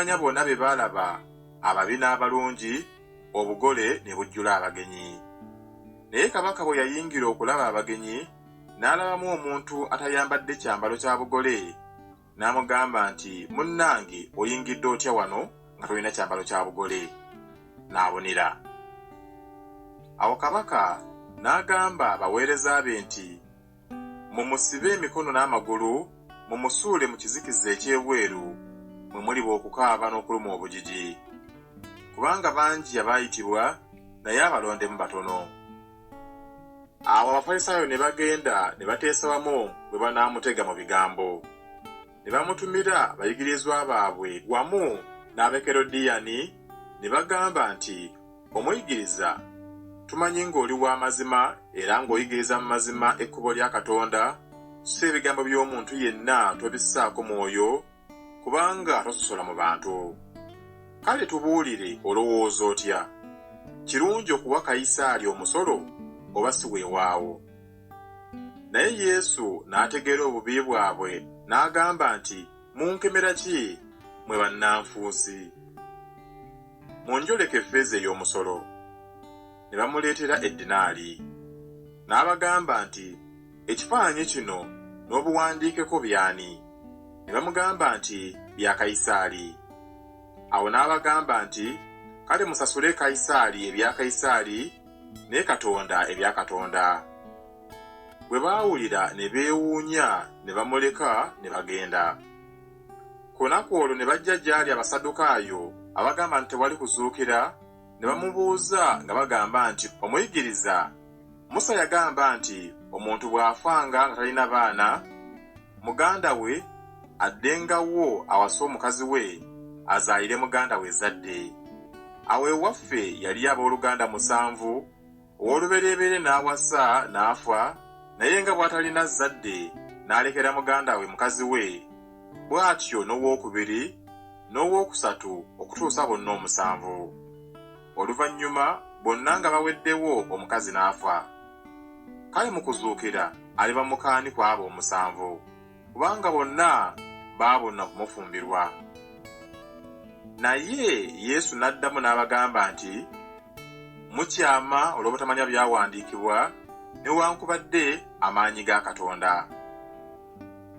Abakuŋŋaanya bona be baalaba ababi n'abalungi, obugole ne bujjula abagenyi. Naye kabaka bwe yayingira okulaba abagenyi, n'alabamu omuntu atayambadde kyambalo kya bugole, n'amugamba nti, Munnange, oyingidde otya wano nga tolina kyambalo kya bugole? N'abonera. Awo kabaka n'agamba abaweereza be nti, Mumusibe emikono n'amagulu, mumusuule mu kizikiza eky'ebweru, mwe muliba okukaaba n'okuluma obujiji. Kubanga bangi abaayitibwa, naye abalondemu batono. Awo Abafarisaayo ne bagenda ne bateesa wamu bwe banaamutega mu bigambo. ne bamutumira bayigirizwa baabwe wamu n'Abekerodiyani, ne bagamba nti, Omuyigiriza, tumanyi ng'oli wa mazima era ng'oyigiriza mu mazima ekkubo lya Katonda, so ebigambo by'omuntu yenna tobissaako mwoyo, kubanga tososola mu bantu. Kale tubuulire, olowooza otya? Kirungi okuwa Kayisaali omusolo oba si weewaawo? Naye Yesu n'ategeera obubi bwabwe, n'agamba nti, Munkemera ki, mmwe bannanfuusi? Munjoleke effeeza ey'omusolo. Ne bamuleetera eddinaali. N'abagamba nti, Ekifaananyi kino n'obuwandiikeko by'ani? Ne bamugamba nti, Bya Kayisaali. Awo n'abagamba nti, Kale musasule Kayisaali ebya Kayisaali, naye katonda ebya katonda bwe baawulira ne beewuunya ne bamuleka ne bagenda ku lunaku olwo ne bajja gy'ali abasaddukaayo abagamba nti tewali kuzuukira ne bamubuuza nga bagamba nti omuyigiriza musa yagamba nti omuntu bw'afanga nga talina baana muganda we addenga wo awase omukazi we azaalire muganda we ezzadde. Awo ewaffe yaliyo ab'oluganda musanvu, ow'olubereberye n'awasa n'afa, naye nga bw'atalina zzadde n'alekera muganda we mukazi we, bw'atyo n'ow'okubiri, n'ow'okusatu okutuusa bonna omusanvu. Oluvannyuma bonna nga baweddewo omukazi n'afa. Kale mu kuzuukira aliba muka ani ku abo omusanvu? Kubanga bonna baabonna kumufumbirwa. Naye Yesu n'addamu n'abagamba nti, Mukyama olw'obutamanya byawandiikibwa newankubadde amaanyi ga Katonda.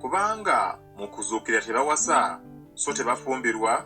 Kubanga mu kuzuukira tebawasa so tebafumbirwa,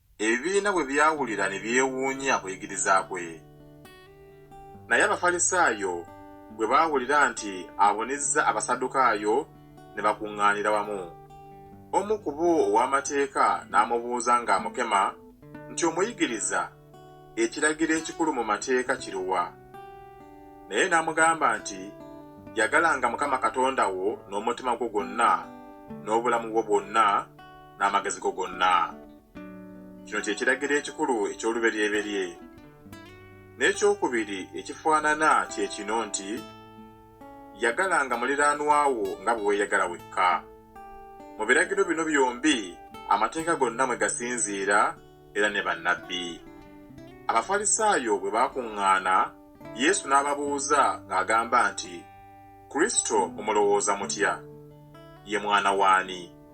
Ebibiina bwe byawulira ne byewuunya okuyigiriza kwe. Naye Abafalisaayo bwe baawulira nti abonizza Abasaddukaayo, ne bakuŋŋaanira wamu. Omu ku bo ow'amateeka n'amubuuza ng'amukema nti, Omuyigiriza, ekiragiro ekikulu mu mateeka kiruwa? Naye n'amugamba nti, Yagalanga Mukama Katonda wo n'omutima gwo gwonna, n'obulamu bwo bwonna, n'amagezi go gonna kino kye kiragiro ekikulu eky'oluberyeberye n'ekyokubiri ekifaanana kye kino nti yagalanga muliraanwa wo nga bwe weeyagala wekka mu biragiro bino byombi amateeka gonna mwe gasinziira era ne bannabbi abafalisaayo bwe baakuŋŋaana yesu n'ababuuza ng'agamba nti kristo mumulowooza mutya ye mwana waani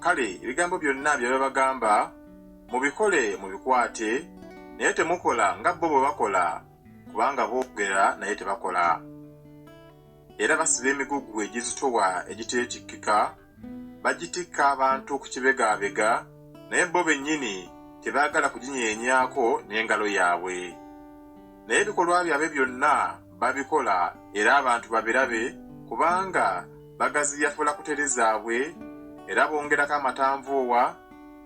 Kale ebigambo byonna bye babagamba mubikole mubikwate, naye temukola nga bo bwe bakola, kubanga boogera naye tebakola. Era basiba emigugu egizitowa egiteetikkika, bagitikka abantu okukibegaabega, naye bo bennyini tebaagala kuginyeenyaako n'engalo yaabwe. Naye ebikolwa byabwe byonna babikola era abantu babirabe kubanga bagaziya fula kutere zaabwe era bongerako amatanvuuwa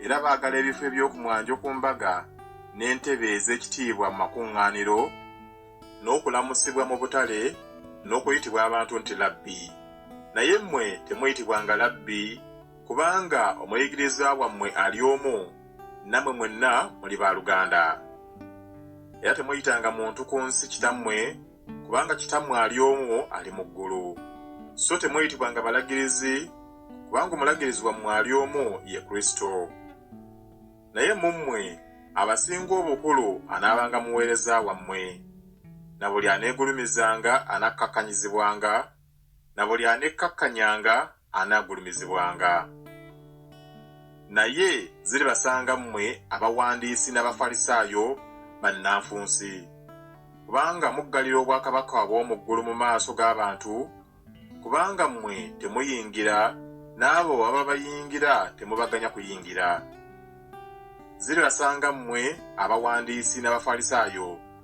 era baagala ebifo eby'okumwanjo ku mbaga n'entebe ez'ekitiibwa mu makuŋŋaaniro n'okulamusibwa mu butale n'okuyitibwa abantu nti labbi naye mmwe temuyitibwanga labbi kubanga omuyigirizwa wammwe ali omu namwe mwenna muli ba luganda era temuyitanga muntu ku nsi kitammwe kubanga kitammwe ali omu ali mu ggulu so temuyitibwanga balagirizi kubanga omulagirizi wammwe ali omu ye kristo naye mu mmwe abasinga obukulu anaabanga muweereza wammwe na buli aneegulumizanga anakkakkanyizibwanga na buli anekkakkanyanga anaagulumizibwanga. Naye ziribasanga mmwe abawandiisi n'Abafalisaayo, bannanfuusi! Kubanga muggalira obwakabaka obw'omu ggulu mu maaso g'abantu, kubanga mmwe temuyingira, n'abo ababayingira temubaganya kuyingira. Ziribasanga mmwe abawandiisi n'Abafalisaayo!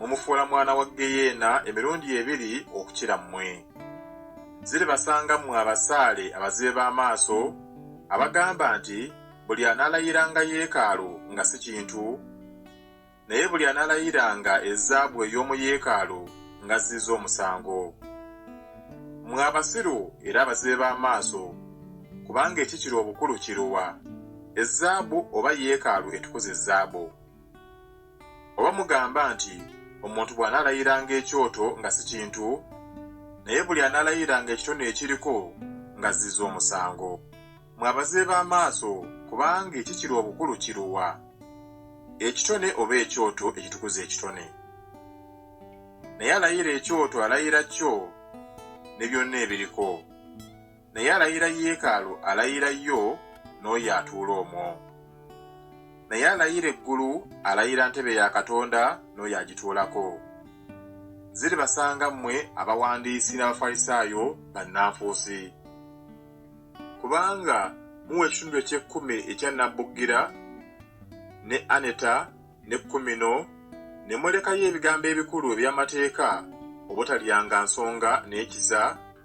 mumufuula mwana wa ggeyeena emirundi ebiri okukira mmwe. Ziribasanga mmwe abasaale abazibe b'amaaso, abagamba nti, Buli anaalayiranga Yeekaalu nga si kintu, naye buli anaalayiranga ezzaabu ey'omu Yeekaalu nga azzizza omusango. Mmwe abasiru era abazibe b'amaaso! Kubanga ekikira obukulu kiruwa, ezzaabu oba Yeekaalu etukuza ezzaabu? Oba mugamba nti omuntu bw'anaalayiranga ekyoto nga si kintu, naye buli anaalayiranga ekitone ekiriko ng'azzizza omusango. Mmwe abazibe b'amaaso, kubanga ekikiri obukulu kiruwa, ekitone oba ekyoto ekitukuza ekitone? Naye alayira ekyoto alayira kyo ne byonna ebiriko. naye alayira yeekaalu alayira yo n'oyo atuula omwo naye alayira eggulu alayira ntebe ya katonda n'oyo agituulako ziribasanga mmwe abawandiisi n'abafalisaayo bannanfuusi kubanga muwa ekitundu eky'ekkumi ekya nabbugira ne aneta ne kkumino ne mulekayo ebigambo ebikulu eby'amateeka obutalyanga nsonga n'ekiza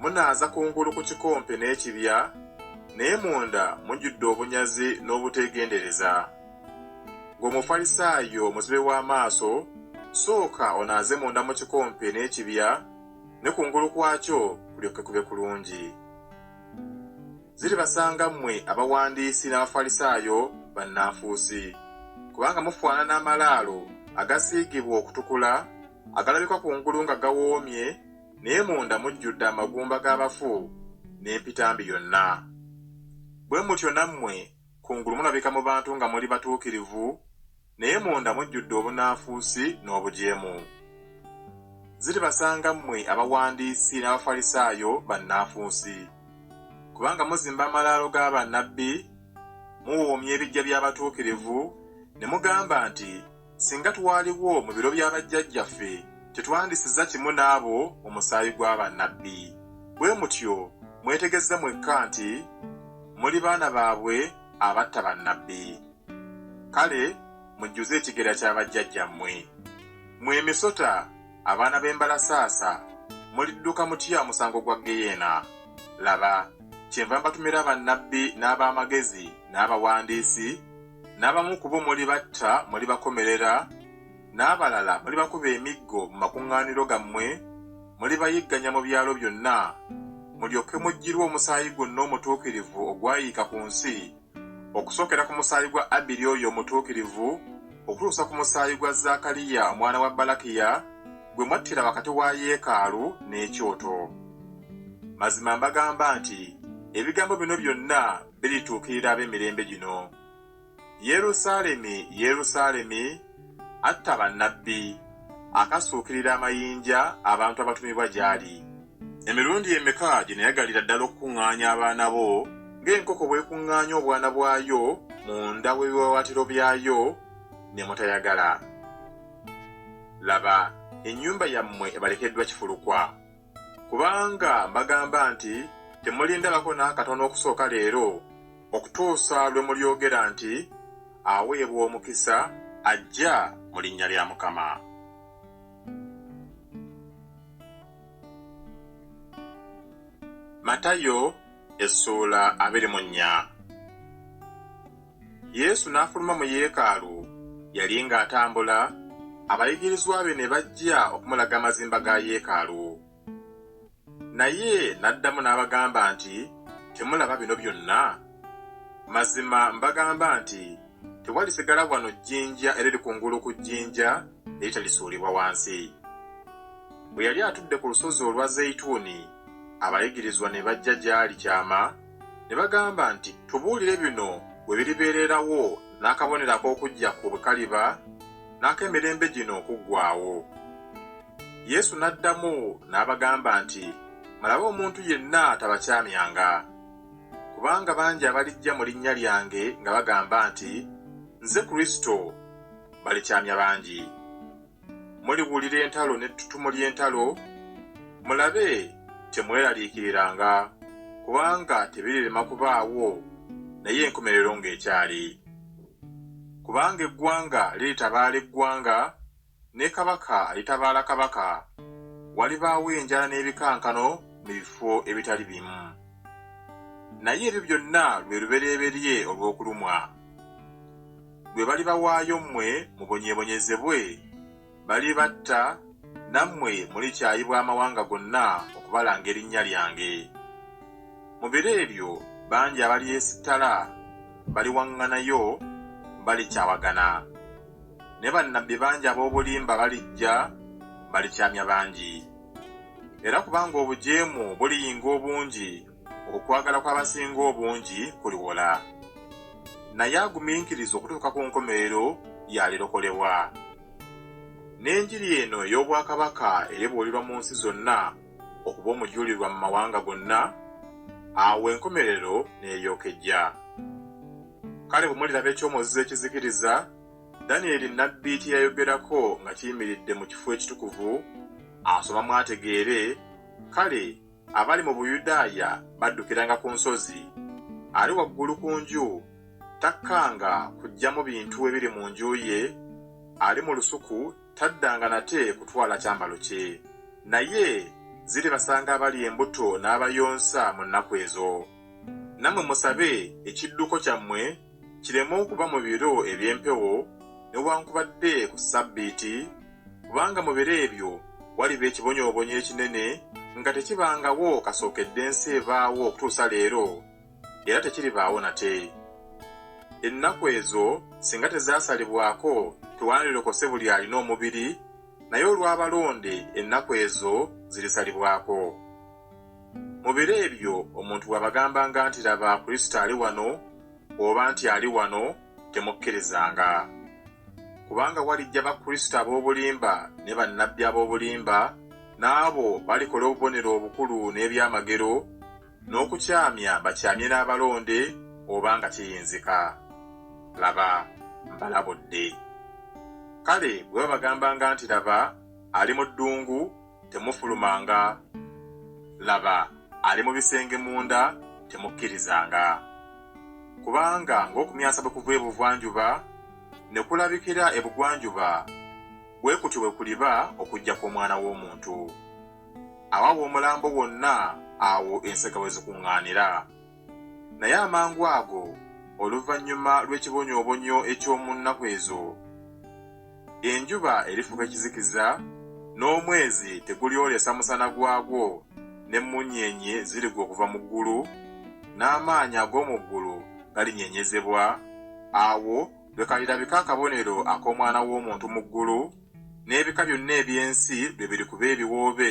Munaaza kungulu ku kikompe n'ekibya, naye munda mujjudde obunyazi n'obuteegendereza. Ggwe Omufalisaayo omuzibe w'amaaso, sooka onaaze munda mu kikompe n'ekibya, ne kungulu kwakyo kulyoke kube kulungi. Ziribasanga mmwe abawandiisi n'Abafalisaayo bannanfuusi! Kubanga mufaanana amalaalo agasiigibwa okutukula, agalabika kungulu nga gawoomye, naye munda mujjudde amagumba g'abafu n'empitambi yonna. Bwe mutyo nammwe kungulu mulabika mu bantu nga muli batuukirivu, naye munda mujjudde obunanfuusi n'obujeemu. Ziribasanga mmwe abawandiisi n'Abafalisaayo bannanfuusi! Kubanga muzimba amalaalo ga bannabbi, muwoomya ebiggya by'abatuukirivu, ne mugamba nti, Singa twaliwo mu biro bya bajjajjaffe, tetwandisiza kimu n'abo mu musaayi gwa bannabbi. Bwe mutyo mwetegezze mwekka nti muli baana baabwe abatta bannabbi. Kale mujjuze ekigera kya bajjajjammwe. Mmwe emisota, abaana b'embalasaasa, mulidduka mutya omusango gwa ggeyeena? Laba! Kyenva mbatumira bannabbi n'ab'amagezi n'abawandiisi n'abamu ku bo mulibatta mulibakomerera, n'abalala mulibakuba emiggo mu makuŋŋaaniro gammwe, mulibayigganya mu byalo byonna, mulyoke muggyirwe omusaayi gwonna omutuukirivu ogwayiika ku nsi, okusookera ku musaayi gwa Abiri oyo omutuukirivu, okutuusa ku musaayi gwa Zaakaliya omwana wa Balakiya, gwe mwattira wakati wa yeekaalu n'ekyoto. Mazima mbagamba nti ebigambo bino byonna birituukirira ab'emirembe gino. Yerusaalemi, Yerusaalemi, atta bannabbi, akasuukirira amayinja abantu abatumibwa gy'ali! Emirundi emeka gye nayagalira ddala okukuŋŋaanya abaana bo, ng'enkoko bw'ekuŋŋaanya obwana bwayo munda w'ebiwaawaatiro byayo, ne mutayagala! Laba, ennyumba yammwe ebalekeddwa kifulukwa. Kubanga mbagamba nti temulindabako n'akatono okusooka leero, okutuusa lwe mulyogera nti, Aweebwa omukisa ajja mu linnya lya Mukama. Matayo essuula abiri mu nnya. Yesu n'afuluma mu yeekaalu. Yali ng'atambula, abayigirizwa be ne bajja okumulaga amazimba ga yeekaalu. Naye n'addamu n'abagamba nti, Temulaba bino byonna? Mazima mbagamba nti tewalisigala wano jjinja eriri ku ngulu ku jjinja eritalisuulibwa wansi. Bwe yali atudde ku lusozi olwa Zeyituuni, abayigirizwa ne bajja gy'ali kyama ne bagamba nti, Tubuulire bino we biribeererawo n'akabonero ak'okujja kwo bwe kaliba n'ak'emirembe gino okuggwaawo. Yesu n'addamu n'abagamba nti, Mulabe omuntu yenna tabakyamyanga. Kubanga bangi abalijja mu linnya lyange nga bagamba nti, Nze Kristo, balikyamya bangi. muliwulira entalo n'ettutumu ly'entalo, mulabe temweraliikiriranga, kubanga tebirirema kubaawo, naye enkomerero ng'ekyali. Kubanga eggwanga liritabaala eggwanga, ne kabaka alitabaala kabaka, walibaawo enjala n'ebikankano mu bifo ebitali bimu. Naye ebyo byonna lwe lubereberye olw'okulumwa. gwe balibawaayo mmwe mubonyeebonyezebwe, balibatta, nammwe mulikyayibwa amawanga gonna okubalanga erinnya lyange. Mu biro ebyo bangi abalyesittala baliwaŋŋanayo, balikyawagana. Ne bannabbi bangi ab'obulimba balijja, balikyamya bangi. Era kubanga obujeemu buliyinga obungi Okwagala kw'abasinga obungi kuliwola, naye agumiikiriza okutuuka ku nkomerero y'alirokolebwa. N'enjiri eno ey'obwakabaka era ebuulirwa mu nsi zonna okuba omujulirwa mu mawanga gonna, awo enkomerero n'eryoka ejja. Kale bwe muliraba ekyomozizo ekizikiriza, Danyeri nnabbi kye yayogerako nga kiyimiridde mu kifo ekitukuvu, asomamu ategeere, kale, abali mu Buyudaaya baddukiranga ku nsozi. Ali waggulu ku nju takkanga kuggyamu bintu ebiri mu nju ye, ali mu lusuku taddanga nate kutwala kyambalo kye. Naye ziribasanga abali embuto n'abayonsa mu nnaku ezo. Nammwe musabe ekidduko kyammwe. kireme okuba mu biro eby'empewo, newankubadde ku ssabbiiti, kubanga mu biro ebyo waliba ekibonyoobonyo ekinene nga tekibangawo kasookedde ensi ebaawo okutuusa leero, era tekiribaawo nate. Ennaku ezo singa tezaasalibwako tewandilokose buli alina omubiri, naye olw'abalonde ennaku ezo zirisalibwako. Mu biro ebyo omuntu bw'abagambanga nti, Laba, Kristo ali wano, oba nti, Ali wano, temukkirizanga. Kubanga walijja bakristo ab'obulimba ne bannabbi ab'obulimba, n'abo balikola obubonero obukulu n'ebyamagero, n'okukyamya bakyamye n'abalonde, oba nga kiyinzika. Laba, mbalabudde. Kale bwe babagambanga nti, Laba, ali mu ddungu, temufulumanga, laba, ali mu bisenge munda, temukkirizanga. Kubanga ng'okumyansa bwe kuva ebugwanjuba ne kulabikira ebugwanjuba, bwe kutyo bwe kuliba okujja kw'Omwana w'Omuntu. Awawo omulambo wonna, awo ensega we zikuŋŋaanira. Naye amangu ago oluvannyuma lw'ekibonyoobonyo eky'omu nnaku ezo, enjuba erifuuka ekizikiza, n'omwezi tegulyolesa musana gwagwo, n'emmunyeenye zirigwa okuva mu ggulu, n'amaanyi ag'omu ggulu galinyeenyezebwa. Awo lwe kalirabika akabonero ak'Omwana w'omuntu mu ggulu, n'ebika byonna eby'ensi lwe birikuba ebiwoobe,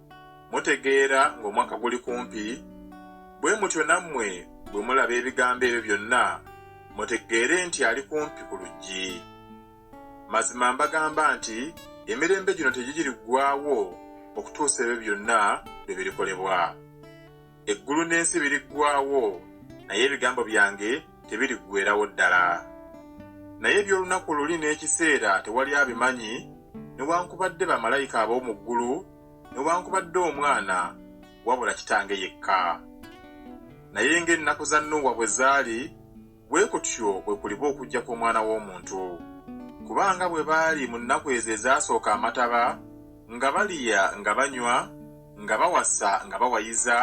Mutegeera ng'omwaka guli kumpi? Bwe mutyo nammwe bwe mulaba ebigambo ebyo byonna, mutegeere nti ali kumpi ku luggi. Mazima mbagamba nti emirembe gino tegigiriggwaawo okutuusa ebyo byonna lwe birikolebwa. eggulu n'ensi biriggwaawo naye ebigambo byange tebiriggweerawo ddala naye eby'olunaku luli n'ekiseera tewali abimanyi newankubadde bamalayika ab'omu ggulu newankubadde omwana wabula kitange yekka naye ng'ennaku za nuuwa bwe zaali bwe kutyo bwe kuliba okujja kw'omwana w'omuntu. Kuba nga bwe baali mu nnaku ezo ezaasooka amataba, nga balya nga banywa, nga bawasa nga bawayiza,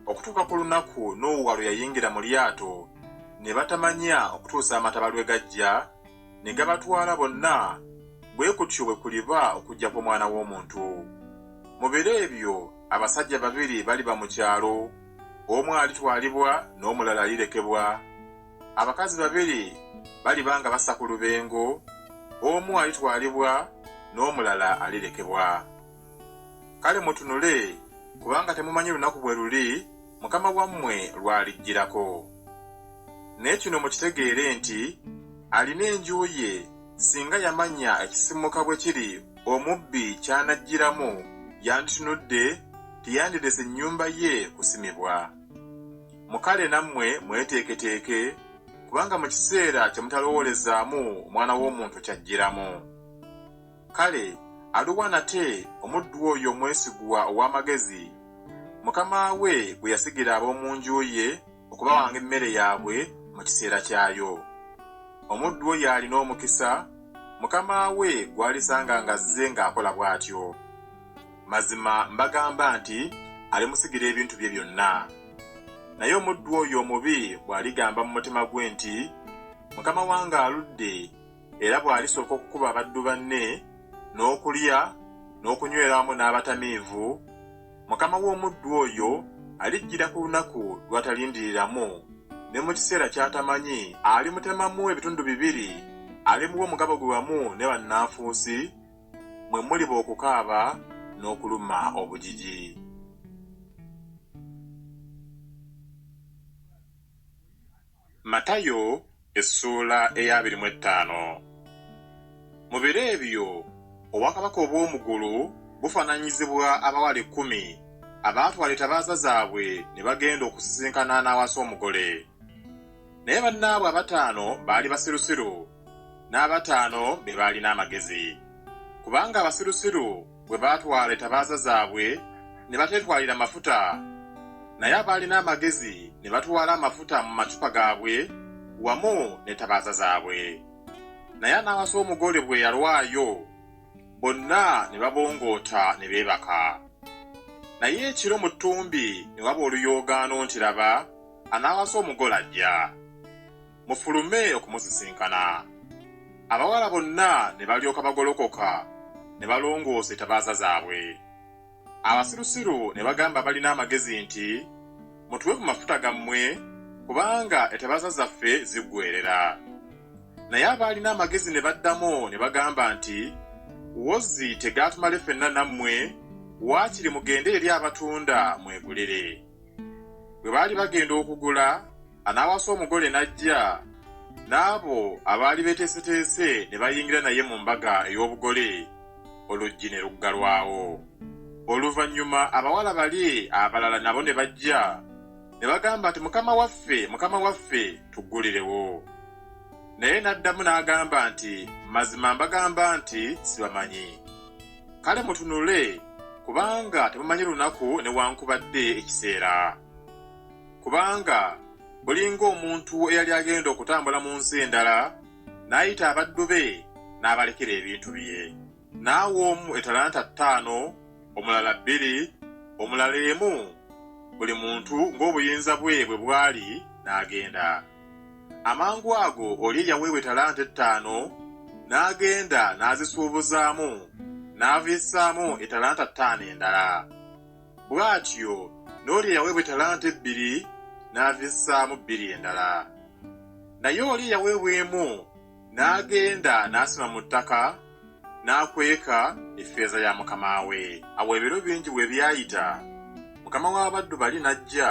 okutuuka ku lunaku Nuuwa lwe yayingira mu lyato, ne batamanya okutuusa amataba lwe gajja ne gabatwala bonna, bwe kutyo bwe kuliba okujja kw'omwana w'omuntu. Mu biro ebyo abasajja babiri baliba mu kyalo. omu alitwalibwa n'omulala alirekebwa. Abakazi babiri baliba nga bassa ku lubengo, omu alitwalibwa n'omulala alirekebwa. Kale mutunule, kubanga temumanyi lunaku bwe luli Mukama wammwe lw'alijjirako. Naye kino mukitegeere nti alina enju ye, Singa yamanya ekisimuka bwe kiri omubbi ky'anajjiramu yanditunudde teyandirese nnyumba ye kusimibwa. Mu kale nammwe mweteeketeeke kubanga mu kiseera kye mutalowoolezaamu Omwana w'Omuntu ky'ajjiramu. Kale aluwa nate omuddu oyo omwesigwa ow'amagezi, mukama we gwe yasigira ab'omu nju ye, okubawanga emmere yaabwe mu kiseera kyayo. Omuddu oyo alina omukisa, mukama we gw'alisanga ng'azze ng'akola bw'atyo. Mazima mbagamba nti alimusigira ebintu bye byonna. Naye omuddu oyo omubi bw'aligamba mu mutima gwe nti, Mukama wange aludde, era bw'alisooka okukuba abaddu banne, n'okulya, n'okunywera awamu n'abatamiivu, Mukama w'omuddu oyo alijjira ku lunaku lw'atalindiriramu, ne mu kiseera ky'atamanyi, alimutemamu ebitundu bibiri, alimuwa omugabo gwe wamu ne bannanfuusi, mwe muliba okukaaba n'okuluma obujiji. Matayo essuula ey'abiri mu ettaano. Mu biro ebyo obwakabaka obw'omu gulu bufananyizibwa abawala ekkumi abaatwala etabaaza zaabwe ne bagenda okusisinkana n'awasa omugole. Naye bannaabwe abataano baali basirusiru, n'abataano be baalina amagezi. Kubanga abasirusiru bwe baatwala etabaaza zaabwe ne bateetwalira mafuta, naye abaalina amagezi ne batwala amafuta mu macupa gaabwe wamu n'etabaaza zaabwe. Naye anaawasa omugole bwe yalwayo, bonna ne babongoota ne beebaka. Naye ekiro mu ttumbi ne waba oluyoogaano nti, Laba, anaawasa omugole ajja! mufulume okumusisinkana. Abawala bonna ne balyoka bagolokoka ne balongoosa etabaaza zaabwe. Abasirusiru ne bagamba abalina amagezi nti, Mutuwe ku mafuta gammwe, kubanga etabaaza zaffe ziggweerera. Naye abaalina amagezi ne baddamu ne bagamba nti, Wozzi tegaatumale fenna nammwe, waakiri mugende eri abatunda mwegulire. Bwe baali bagenda okugula, anaawasa omugole n'ajja, n'abo abaali beeteeseteese ne bayingira naye mu mbaga ey'obugole, oluggi ne luggalwawo. Oluvannyuma abawala bali abalala nabo ne bajja, ne bagamba nti, Mukama waffe, Mukama waffe, tuggulirewo. Naye n'addamu n'agamba nti, Mazima mbagamba nti, sibamanyi. Kale mutunule, kubanga temumanyi lunaku newankubadde ekiseera. Kubanga bulinga omuntu eyali agenda okutambula mu nsi endala, n'ayita abaddu be n'abalekera ebintu bye. N'awa omu etalanta ttaano, omulala bbiri, omulala emu, buli muntu ng'obuyinza bwe bwe bwali, n'agenda. Amangu ago oli eyaweebwa ettalanta ettaano n'agenda n'azisuubuzaamu n'aviissaamu ettalanta ttaano endala. Bw'atyo n'oli eyaweebwa ettalanta ebbiri n'aviissaamu bbiri endala. Naye oli eyaweebwa emu n'agenda n'asima mu ttaka n'akweka effeeza ya mukama we. Awo ebiro bingi bwe byayita, mukama w'abaddu bali n'ajja,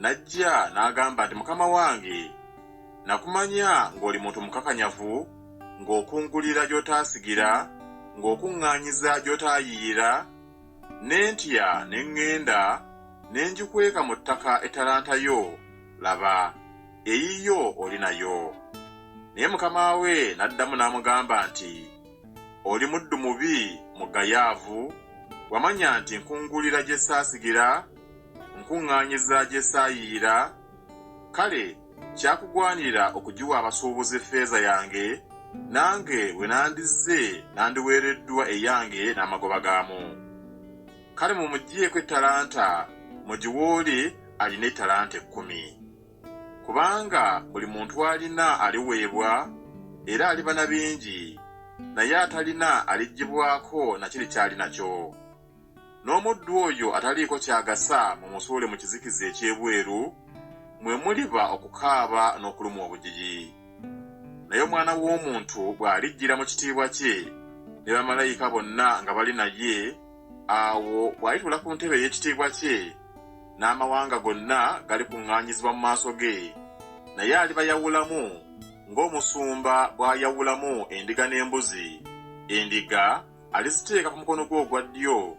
N'ajja n'agamba nti, Mukama wange, nakumanya ng'oli muntu mukakanyavu, ng'okungulira gy'otaasigira, ng'okuŋŋaanyiza gy'otaayiira, ne ntya ne ŋŋenda ne ngikweka mu ttaka ettalanta yo, laba, eyiyo oli nayo. Naye mukama we n'addamu n'amugamba nti, Oli muddu mubi, mugayaavu, wamanya nti nkungulira gye saasigira, nkuŋŋaanyiza gye saayiira, kale kyakugwanira okugiwa abasuubuzi ffeeza yange, nange bwe nandizze nandiweereddwa eyange n'amagoba gaamu. Kale mumuggyeeko ettalanta mugiwe oli alina ettalanta ekkumi. Kubanga buli muntu alina aliweebwa, era aliba na bingi, naye atalina aliggyibwako na kiri ky'ali nakyo. N'omuddu oyo ataliiko ky'agasa mumusuule mu kizikiza eky'ebweru, mwe muliba okukaaba n'okulumwa obujiji. Naye Omwana w'Omuntu bw'alijjira mu kitiibwa kye, ne bamalayika bonna nga bali naye, awo bw'alituula ku ntebe ey'ekitiibwa kye, n'amawanga gonna galikuŋŋaanyizibwa mu maaso ge, naye alibayawulamu ng'omusumba bw'ayawulamu endiga n'embuzi, endiga aliziteeka ku mukono gwe ogwa ddyo,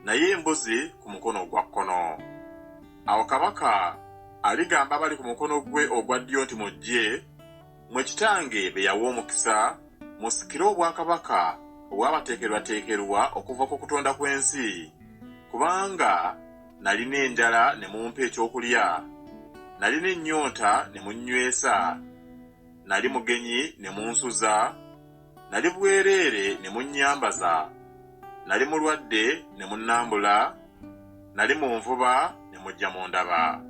naye embuzi ku mukono ogwa kkono. Awo kabaka aligamba abali ku mukono gwe ogwa ddyo nti, Mujje, mmwe kitange be yawa omukisa, musikire obwakabaka obwabateekerwateekerwa okuva ku kutonda kw'ensi, kubanga nalina enjala ne mumpa ekyokulya, nalina ennyonta ne munnywesa, nali mugenyi ne munsuza, Nali bwereere ne munnyambaza, nali mulwadde ne munnambula, nali mu nvuba ne mujja mundaba.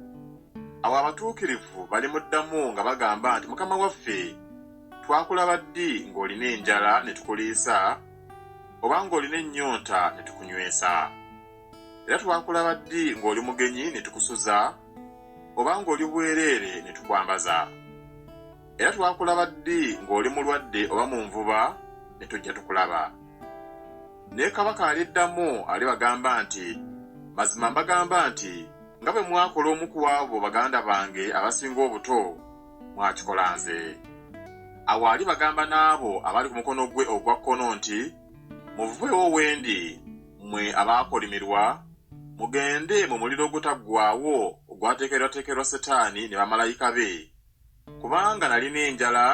Awo abatuukirivu balimuddamu nga bagamba nti, Mukama waffe, twakulaba ddi ng'olina enjala ne tukuliisa, oba ng'olina ennyonta ne tukunywesa? Era twakulaba ddi ng'oli mugenyi ne tukusuza, oba ng'oli bwereere ne tukwambaza? era twakulaba ddi ng'oli mulwadde oba mu nvuba ne tujja tukulaba. Ne kabaka aliddamu alibagamba nti, Mazima mbagamba nti nga bwe mwakola omu ku abo baganda bange abasinga obuto, mwakikola nze. Awo alibagamba n'abo abali ku mukono gwe ogwa kkono nti, Muveewo wendi, mmwe abaakolimirwa, mugende mu muliro ogutaggwaawo ogwateekerwateekerwa Setaani ne bamalayika be. Kubanga nalina enjala,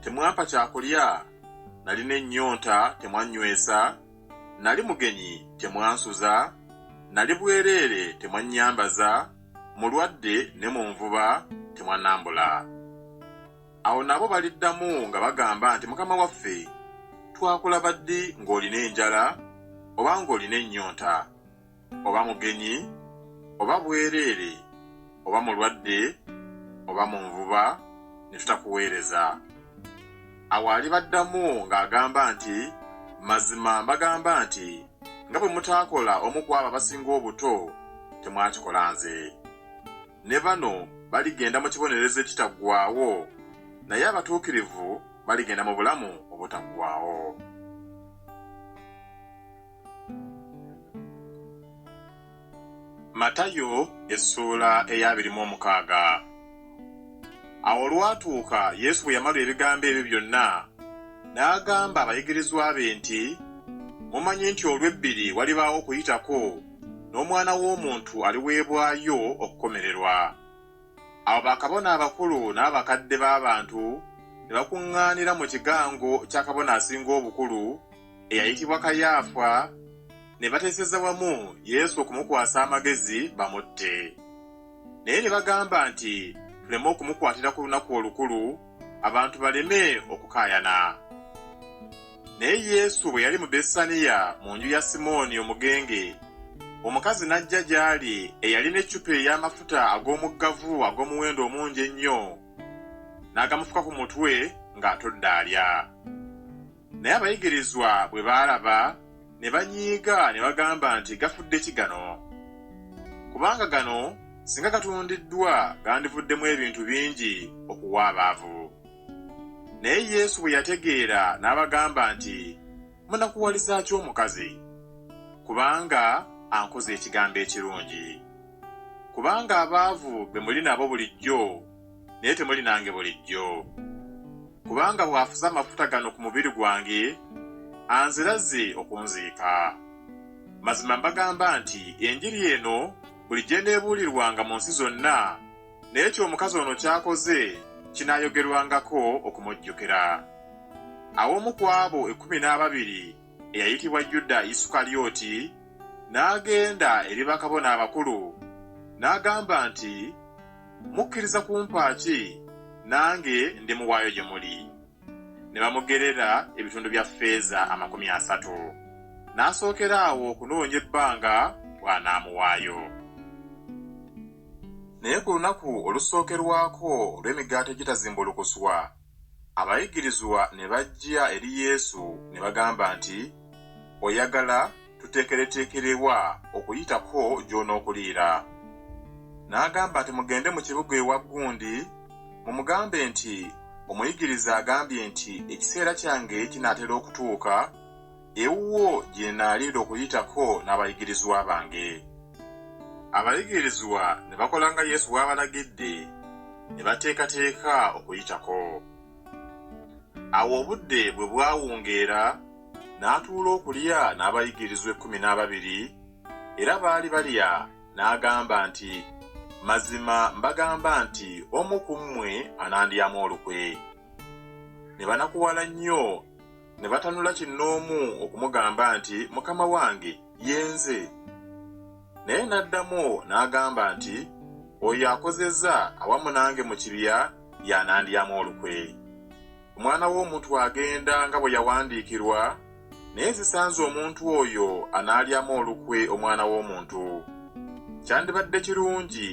temwampa kya kulya, nalina ennyonta, temwannywesa, nali mugenyi, temwansuza, nali bwereere, temwannyambaza, mulwadde ne mu nvuba, temwannambula. Awo nabo baliddamu nga bagamba nti, Mukama waffe, twakulaba ddi ng'olina enjala oba ng'olina ennyonta, oba mugenyi, oba bwereere, oba mulwadde, oba mu nvuba, ne tutakuweereza. Awo alibaddamu ng'agamba nti, Mazima mbagamba nti, nga bwe mutaakola omu ku abo abasinga obuto, temwakikola nze. Ne bano baligenda mu kibonerezo ekitaggwaawo, naye abatuukirivu baligenda mu bulamu obutaggwaawo. Matayo essuula ey'abiri mu omukaaga. Awo olwatuuka Yesu bwe yamalu ebigambo ebyo byonna, n'agamba abayigirizwa be nti, Mumanyi nti olw'ebbiri walibaawo Okuyitako, n'Omwana w'omuntu aliweebwayo okukomererwa. Awo bakabona abakulu n'abakadde b'abantu ne bakuŋŋaanira mu kigango kya Kabona Asinga Obukulu, eyayitibwa Kayaafa ne bateeseza wamu Yesu okumukwasa amagezi bamutte. Naye ne bagamba nti, Tuleme okumukwatira ku lunaku olukulu, abantu baleme okukaayana. Naye Yesu bwe yali mu Bessaniya mu nju ya Simooni omugenge, omukazi n'ajja gy'ali eyalina eccupa ey'amafuta ag'omuggavu ag'omuwendo omungi ennyo, n'agamufuka ku mutwe ng'atudde alya. Naye abayigirizwa bwe baalaba, ne banyiiga ne bagamba nti, Gafudde ki gano? Kubanga gano singa gatundiddwa gandivuddemu ebintu bingi okuwa abaavu. Naye Yesu bwe yategeera n'abagamba nti, Munakuwaliza ki omukazi? Kubanga ankoze ekigambo ekirungi. Kubanga abaavu be muli nabo bulijjo naye temuli nange bulijjo. Kubanga bw'afuze amafuta gano ku mubiri gwange, anzira azze okunziika. Mazima mbagamba nti Enjiri eno bulijjo eneebuulirwanga mu nsi zonna, naye ky'omukazi ono ky'akoze kinaayogerwangako okumujjukira. Awo omu ku abo ekkumi n'ababiri eyayitibwa Yuda Isukalyoti, n'agenda eri bakabona abakulu, n'agamba nti, Mukkiriza kumpa ki, nange ndimuwaayo gye muli? Ne bamugerera ebitundu bya ffeeza amakumi asatu. N'asookera awo okunoonya ebbanga bw'anaamuwaayo. Naye ku lunaku olusookerwako olw'Emigaati Egitazimbulukuswa, Abayigirizwa ne bajja eri Yesu ne bagamba nti, Oyagala tuteekereteekere wa Okuyitako gy'onookuliira? N'agamba nti, Mugende mu kibuga ewa gundi, mumugambe nti, Omuyigiriza agambye nti ekiseera kyange kinaatera okutuuka, ewuwo gye nnaalinda okuyitako n'abayigirizwa bange. Abayigirizwa ne bakola nga Yesu bw'abalagidde, ne bateekateeka okuyitako. Awo obudde bwe bwawungeera, n'atuula okulya n'abayigirizwa ekkumi n'ababiri, era baali balya, n'agamba nti, Mazima mbagamba nti omu ku mmwe anandyamu olukwe. Ne banakuwala nnyo. ne batanula kinnoomu okumugamba nti mukama wange yenze naye n'addamu n'agamba nti oyo akozezza awamu nange mu kibya y'anandyamu olukwe omwana w'omuntu agenda nga bwe yawandiikirwa naye zisanze omuntu oyo anaalyamu olukwe omwana w'omuntu kyandibadde kirungi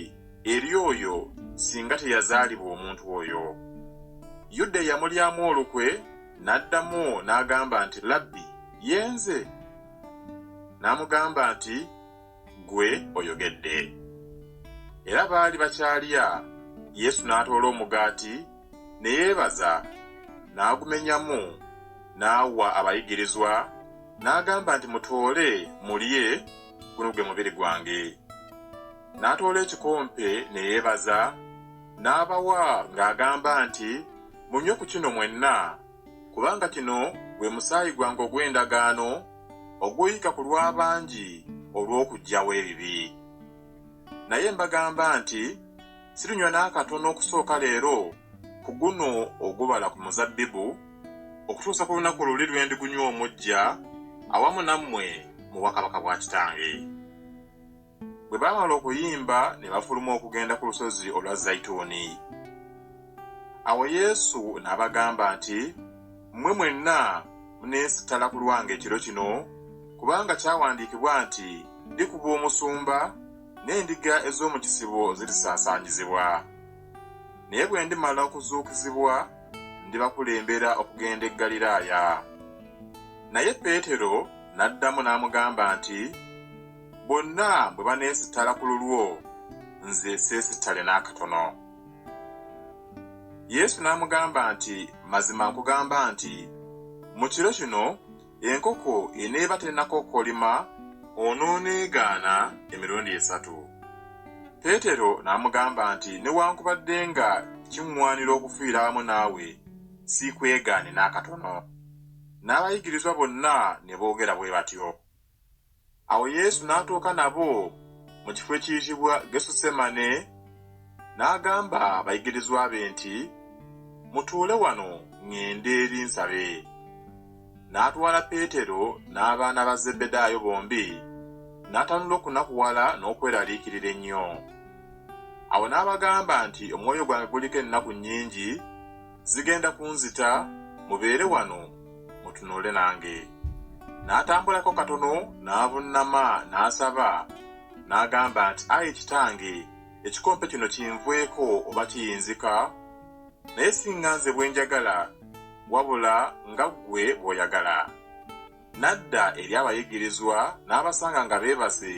eri oyo singa teyazaalibwa omuntu oyo yuda eyamulyamu olukwe N'addamu n'agamba nti, Labbi, ye nze. N'amugamba nti, Ggwe oyogedde. Era baali bakyalya, Yesu n'atoola omugaati, ne yeebaza, n'agumenyamu, n'awa abayigirizwa, n'agamba nti, Mutoole, mulye, guno gwe mubiri gwange. N'atoola ekikompe, ne yeebaza. n'abawa ng'agamba nti, Munywe ku kino mwenna, kubanga kino gwe musaayi gwange ogw'endagaano, oguyiika ku lw'abangi olw'okuggyawo ebibi. Naye mbagamba nti, Sirinywa n'akatono okusooka leero ku guno ogubala ku muzabbibu, okutuusa ku lunaku luli lwe ndigunywa omuggya awamu nammwe mu bwakabaka bwa Kitange. Bwe baamala okuyimba ne bafuluma okugenda ku lusozi olwa Zayituuni. Awo Yesu n'abagamba nti, Mmwe mwenna muneesittala ku lwange ekiro kino, kubanga kyawandiikibwa nti, Ndikuba omusumba, n'endiga ez'omu kisibo zirisaasaanyizibwa. Naye bwe ndimala okuzuukizibwa, ndibakulembera okugenda e Ggaliraaya. Naye Peetero n'addamu n'amugamba nti, Bonna bwe baneesittala ku lulwo, nze seesittale n'akatono. Yesu n'amugamba nti, Mazima nkugamba nti, mu kiro kino enkoko eneeba tennakookolima, onooneegaana emirundi esatu. Peetero n'amugamba nti, Newankubadde nga kiŋŋwanira okufiira awamu naawe, siikwegaanye n'akatono. N'abayigirizwa bonna ne boogera bwe batyo. Awo Yesu n'atuuka nabo mu kifo ekiyitibwa Gesusemane, n'agamba abayigirizwa be nti, Mutuule wano ŋŋende eri nsabe. N'atwala Peetero n'abaana ba Zebbedaayo bombi, n'atanula okunakuwala n'okweraliikirira ennyo. Awo n'abagamba nti, Omwoyo gwange guliko ennaku nnyingi, zigenda kunzita mubeere wano mutunuule nange n'atambulako katono n'avunnama n'asaba n'agamba nti ayi kitange ekikompe kino kinvweko oba kiyinzika naye singa nze bwe njagala wabula nga ggwe bw'oyagala N'adda eri abayigirizwa n'abasanga nga beebase,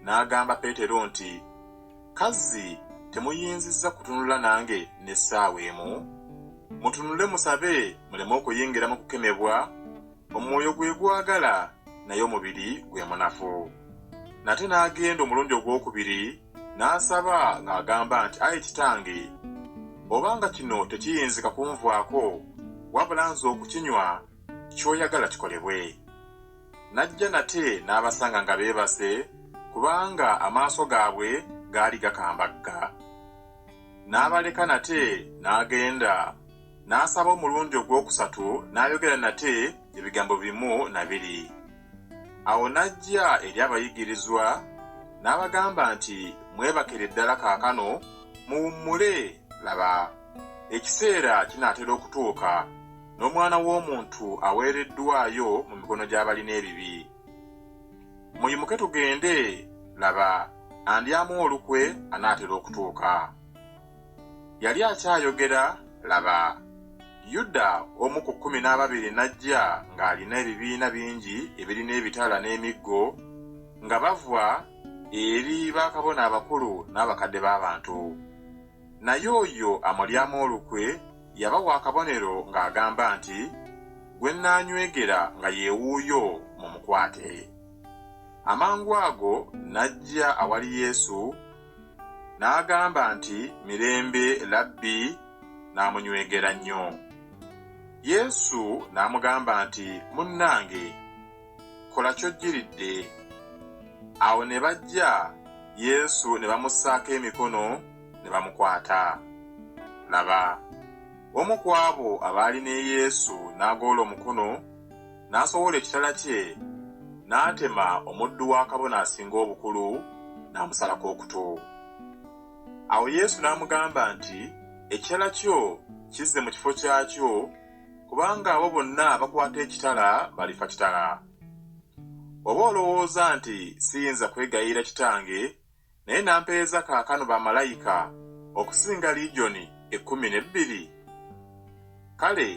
n'agamba Peetero nti, Kazzi temuyinzizza kutunula nange n'essaawa emu? Mutunule musabe muleme okuyingira mu kukemebwa, omwoyo gwe gwagala, naye omubiri gwe munafu. Nate n'agenda omulundi ogwokubiri, n'asaba ng'agamba nti, Ayi Kitange, oba nga kino tekiyinzika kunvaako, wabula nze okukinywa, ky'oyagala kikolebwe. N'ajja nate n'abasanga nga beebase, kubanga amaaso gaabwe gaali gakambagga. N'abaleka nate n'agenda, n'asaba omulundi ogw'okusatu n'ayogera nate ebigambo bimu na biri. Awo n'ajja eri abayigirizwa, n'abagamba nti, Mwebakere ddala kaakano, muwummule, laba, ekiseera kinaatera okutuuka, n'omwana w'omuntu aweereddwayo mu mikono gy'abalina ebibi. Muyimuke tugende, laba, andyamu olukwe anaatera okutuuka. Yali akyayogera, laba, Yuda omu ku kkumi n'ababiri n'ajja ng'alina ebibiina bingi ebirina ebitala n'emiggo, nga bava eri bakabona abakulu n'abakadde b'abantu. Naye oyo amulyamu olukwe yabawa akabonero ng'agamba nti, Gwe nnaanywegera nga ye wuuyo, mumukwate. Amangu ago n'ajja awali Yesu, n'agamba nti, Mirembe, Labbi, n'amunywegera nnyo. Yesu n'amugamba nti, Munnange! kola kyojjiridde. Awo ne bajja Yesu ne bamussaako emikono ne bamukwata. Laba, omu ku abo abaali ne Yesu n'agoola omukono, n'asowola ekitala kye, n'atema omuddu wa kabona asinga obukulu, n'amusalako okutu. Awo Yesu n'amugamba nti, Ekitala kyo kizze mu kifo kyakyo, kubanga abo bonna abakwata ekitala balifa kitala. Oba olowooza nti siyinza kwegayirira Kitange, naye n'ampeereza kaakano bamalayika okusinga ligyoni ekkumi n'ebbiri? Kale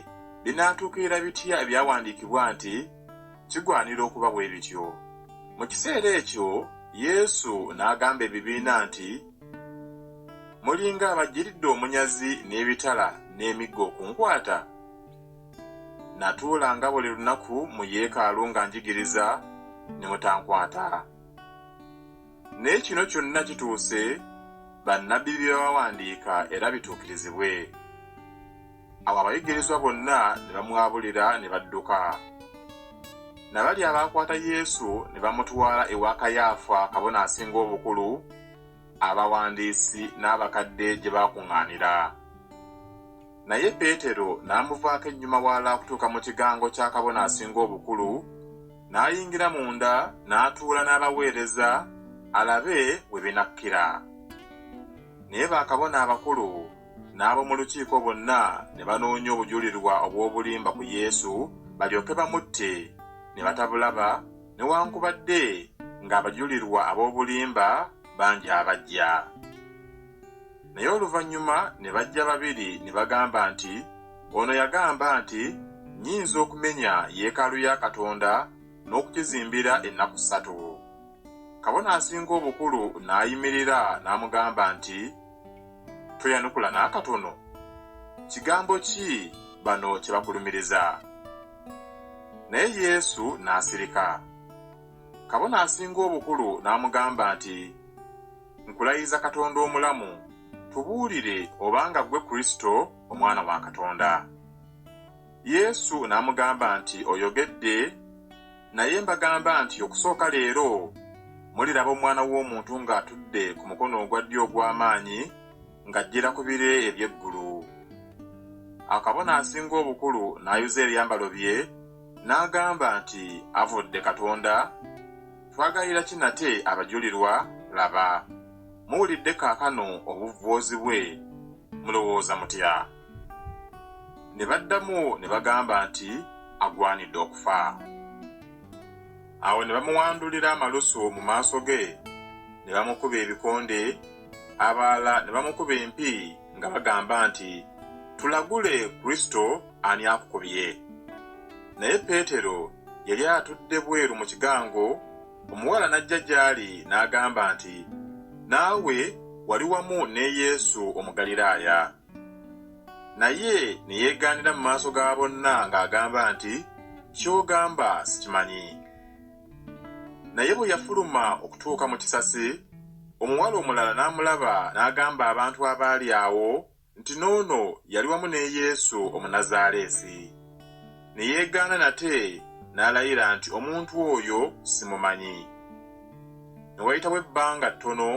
binaatuukirira bitya ebyawandiikibwa nti kigwanira okuba bwe bityo? Mu kiseera ekyo Yesu n'agamba ebibiina nti. mulinga abajjiridde omunyazi n'ebitala n'emiggo okunkwata natuula nga buli lunaku mu yeekaalu nga njigiriza ne mutankwata naye kino kyonna kituuse bannabbi bye bawandiika era bituukirizibwe Awo abayigirizwa bonna ne bamwabulira ne badduka. Nabali abaakwata Yesu ne bamutwala ewa Kayaafa kabona asinga obukulu, abawandiisi n'abakadde gye baakuŋŋaanira. Naye Peetero n'amuvaako ennyuma wala okutuuka mu kigango kya kabona asinga obukulu, n'ayingira munda n'atuula n'abaweereza alabe we binakkira. Naye bakabona abakulu n'ab'omu lukiiko bonna ne banoonya obujulirwa obw'obulimba ku Yesu balyoke bamutte, ne batabulaba, newankubadde ng'abajulirwa ab'obulimba bangi abajja. Naye oluvannyuma ne bajja babiri ne bagamba nti, Ono yagamba nti, Nnyinza okumenya yeekaalu ya Katonda n'okugizimbira ennaku ssatu. Kabona Asinga Obukulu n'ayimirira n'amugamba nti, Toyanukula n'akatono? Kigambo ki bano kye bakulumiriza? Naye Yesu n'asirika. Kabona asinga obukulu n'amugamba nti, Nkulayiza Katonda omulamu, tubuulire obanga ggwe Kristo, Omwana wa Katonda. Yesu n'amugamba nti, Oyogedde. Naye mbagamba nti okusooka leero muliraba Omwana w'Omuntu ng'atudde ku mukono ogwa ddyo ogw'amaanyi ng'ajjira ku bire eby'eggulu. Awo kabona asinga obukulu n'ayuza ebyambalo bye, n'agamba nti, Avvodde Katonda! Twagayira ki nate abajulirwa? Laba, muwulidde kaakano obuvvoozi bwe. Mulowooza mutya? ne baddamu ne bagamba nti agwanidde okufa awo ne bamuwandulira amalusu mu maaso ge ne bamukuba ebikonde abalala ne bamukuba empi nga bagamba nti tulagule kristo ani akukubye naye peetero yali atudde bweru mu kigango omuwala n'ajja gy'ali n'agamba nti naawe wali wamu ne yesu omugaliraaya Naye ne yeegaanira mu maaso ga bonna ng'agamba nti, Ky'ogamba sikimanyi. Naye bwe yafuluma okutuuka mu kisasi, omuwala omulala n'amulaba n'agamba abantu abaali awo nti, N'ono yali wamu ne Yesu Omunazaaleesi. Ne yeegaana nate n'alayira nti, Omuntu oyo simumanyi. Ne wayitawo ebbanga ttono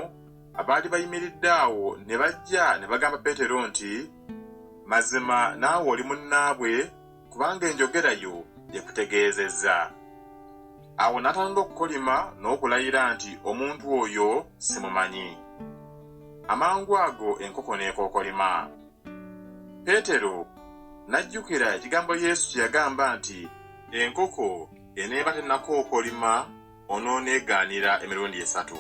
abaali bayimiridde awo ne bajja ne bagamba Peetero nti, Mazima naawe oli munnaabwe, kubanga enjogera yo ekutegeezezza. Awo n'atandula okukolima n'okulayira nti, Omuntu oyo simumanyi. Amangu ago enkoko n'ekookolima. Peetero n'ajjukira ekigambo Yesu kye yagamba nti, Enkoko eneeba tennakookolima, onooneegaanira emirundi esatu.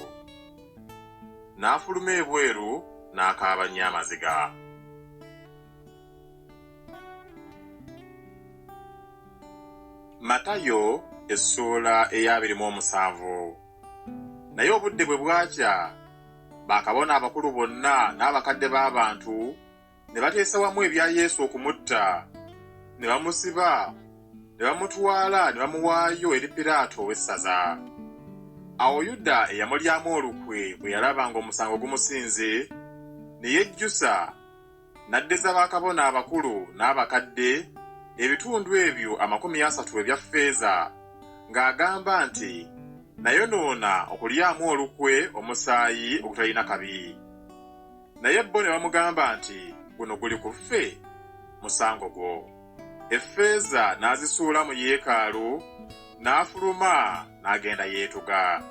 N'afuluma ebweru n'akaaba nnyo amaziga. Matayo essuula ey'abiri mu omusanvu Naye obudde bwe bwakya, bakabona abakulu bonna n'abakadde b'abantu ne bateesa wamu ebya Yesu okumutta, ne bamusiba, ne bamutwala ne bamuwaayo eri Piraato ow'essaza. Awo Yuda eyamulyamu olukwe bwe yalaba ng'omusango gumusinze, ne yejjusa, n'addiza bakabona abakulu n'abakadde ebitundu ebyo amakumi asatu ebya ffeeza, ng'agamba nti, Nayonoona okulyamu olukwe omusaayi ogutalina kabi. naye bo ne bamugamba nti, Guno guli ku ffe? Musango gwo. Effeeza n'azisuula mu yeekaalu, n'afuluma n'agenda yeetuga.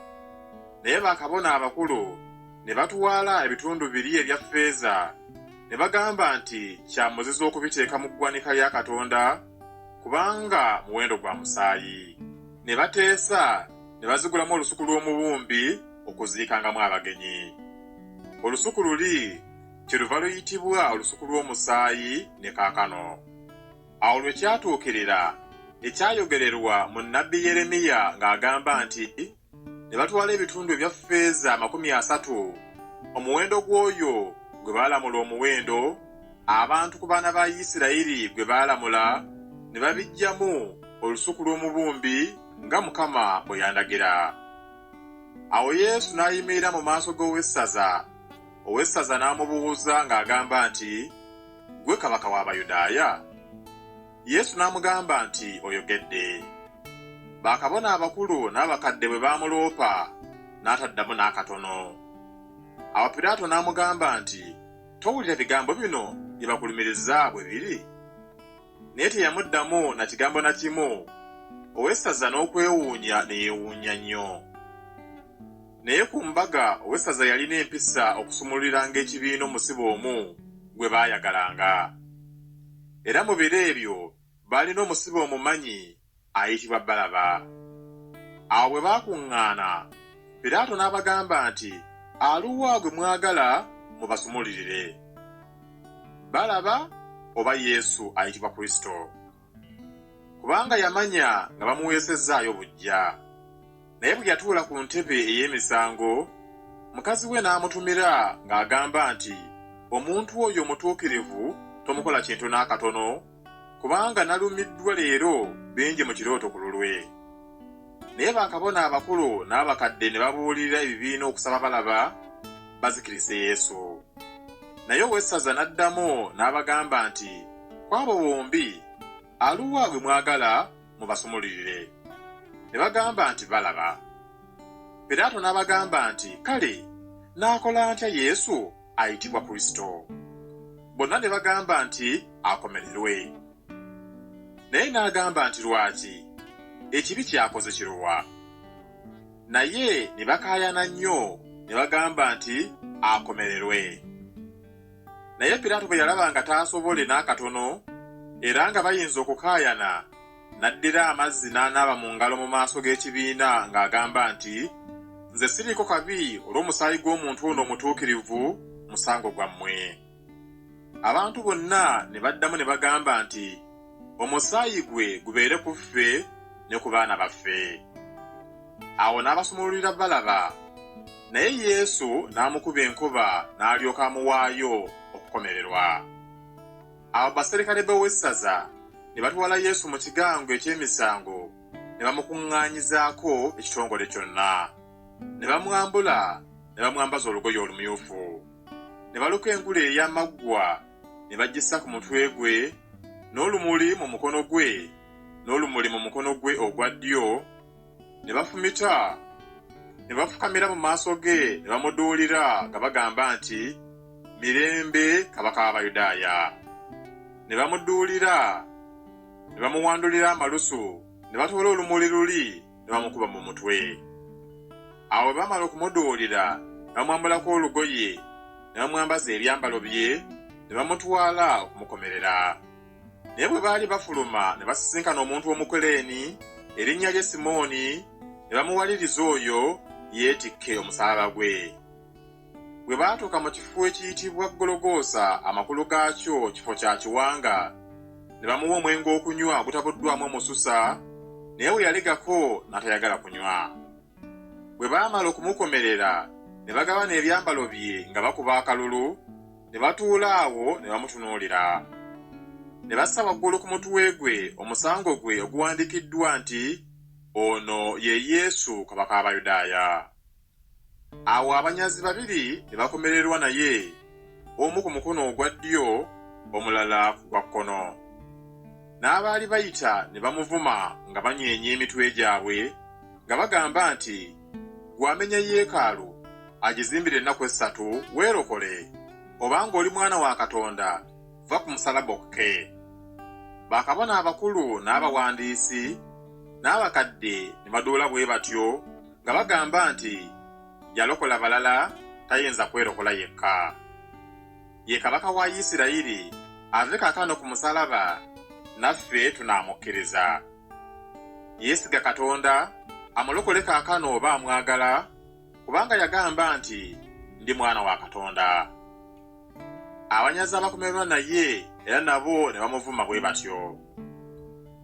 Naye bakabona abakulu ne batwala ebitundu biri ebya ffeeza, ne bagamba nti kya muzizo okubiteeka mu ggwanika lya Katonda, kubanga muwendo gwa musaayi. Ne bateesa ne bazigulamu olusuku lw'omubumbi. okuziikangamu abagenyi. Olusuku luli kyeluva luyitibwa olusuku lw'omusaayi ne kaakano. Awo lwe kyatuukirira ekyayogererwa mu nnabbi Yeremiya ng'agamba nti, Ne batwala ebitundu ebya ffeeza amakumi asatu, omuwendo gw'oyo gwe baalamula omuwendo, abantu ku baana ba Isirayiri gwe baalamula, ne babiggyamu olusuku lw'omubumbi nga Mukama bwe yandagira. Awo Yesu n'ayimirira mu maaso g'owessaza, owessaza n'amubuuzza ng'agamba nti, Ggwe kabaka w'Abayudaaya? Yesu n'amugamba nti, Oyogedde. Bakabona abakulu n'abakadde bwe baamuloopa, n'ataddamu n'akatono. Awo Piraato n'amugamba nti, Towulira bigambo bino bye bakulumiriza bwe biri? naye teyamuddamu na kigambo na kimu, owessaza n'okwewuunya ne yeewuunya nnyo. Naye ku mbaga owessaza yalina empisa okusumululiranga ekibiina omusibe omu gwe baayagalanga. Era mu biro ebyo baalina omusibe omumanyi ayitibwa Balaba. Awo bwe baakuŋŋaana, Piraato n'abagamba nti, Aluwa gwe mwagala mubasumululire? Balaba oba Yesu ayitibwa Kristo? Kubanga yamanya nga bamuweesezzaayo buggya. Naye bwe yatuula ku ntebe ey'emisango, mukazi we n'amutumira ng'agamba nti, Omuntu oyo omutuukirivu tomukola kintu n'akatono. kubanga nalumiddwa leero bingi mu kirooto ku lulwe. Naye bakabona abakulu n'abakadde ne babuulirira ebibiina okusaba balaba bazikirise Yesu. Naye owessaza n'addamu n'abagamba nti, Ku abo bombi, aluwa gwe mwagala mubasumululire? Ne bagamba nti, Balaba. Piraato n'abagamba nti, Kale, naakola ntya Yesu? ayitibwa Kristo. Bonna ne bagamba nti, Akomererwe! Naye n'agamba nti, Lwaki? Ekibi ky'akoze kiruwa? Naye ne bakaayana nnyo ne bagamba nti, Akomererwe! Naye Piraato bwe yalaba nga taasobole n'akatono era nga bayinza okukaayana, N'addira amazzi n'anaaba mu ngalo mu maaso g'ekibiina ng'agamba nti, Nze siriiko kabi olw'omusaayi gw'omuntu ono omutuukirivu, musango gwammwe. Abantu bonna ne baddamu ne bagamba nti, Omusaayi gwe gubeere ku ffe ne ku baana baffe. Awo n'abasumululira Balaba, naye Yesu n'amukuba enkuba n'alyoka amuwaayo okukomererwa. Awo baserikale b'owessaza ne batwala Yesu mu kigango eky'emisango ne bamukuŋŋaanyizaako ekitongole kyonna. Ne bamwambula ne bamwambaza olugoye olumyufu. Ne baluka engule ey'amaggwa ne bagissa ku mutwe gwe, n'olumuli mu mukono gwe, n'olumuli mu mukono gwe ogwa ddyo. ne bafumita ne bafukamira mu maaso ge ne bamuduulira nga bagamba nti, Mirembe, Kabaka w'Abayudaaya! Ne bamuduulira, ne bamuwandulira amalusu, ne batoola olumuli luli ne bamukuba mu mutwe. Awo bwe baamala okumuduulira, ne bamwambulako olugoye, ne bamwambaza ebyambalo bye, ne bamutwala okumukomerera. Naye bwe baali bafuluma ne basisinkana omuntu Omukuleeni erinnya lye Simooni, ne bamuwaliriza oyo yeetikke omusaalaba gwe. Bwe baatuuka mu kifo ekiyitibwa Gologoosa, amakulu gaakyo Kifo kya Kiwanga, ne bamuwa omwenge okunywa ogutabuddwamu omususa, naye bwe yalegako n'atayagala kunywa. Bwe baamala okumukomerera, ne bagabana ebyambalo bye nga bakuba akalulu, ne batuula awo ne bamutunuulira. Ne bassa waggulu ku mutwe gwe omusango gwe oguwandiikiddwa nti, Ono ye Yesu, Kabaka w'Abayudaaya. Awo abanyazi babiri ne bakomererwa naye, omu ku mukono ogwa ddyo, omulala ku gwa kkono. N'abaali bayita ne bamuvuma nga banyeenya emitwe gyabwe, nga bagamba nti, gwamenya yeekaalu agizimbire ennaku essatu weerokole obanga oli mwana wa katonda va ku musalaba okke bakabona abakulu n'abawandiisi n'abakadde ne baduula bwe batyo nga bagamba nti yalokola balala tayinza kwerokola yekka ye kabaka wa isirayiri ave kakano ku musalaba naffe tunaamukkiriza Yeesiga Katonda amulokole kaakano oba amwagala, kubanga yagamba nti, Ndi mwana wa Katonda. Abanyazi abakomererwa naye era nabo ne bamuvuma bwe batyo.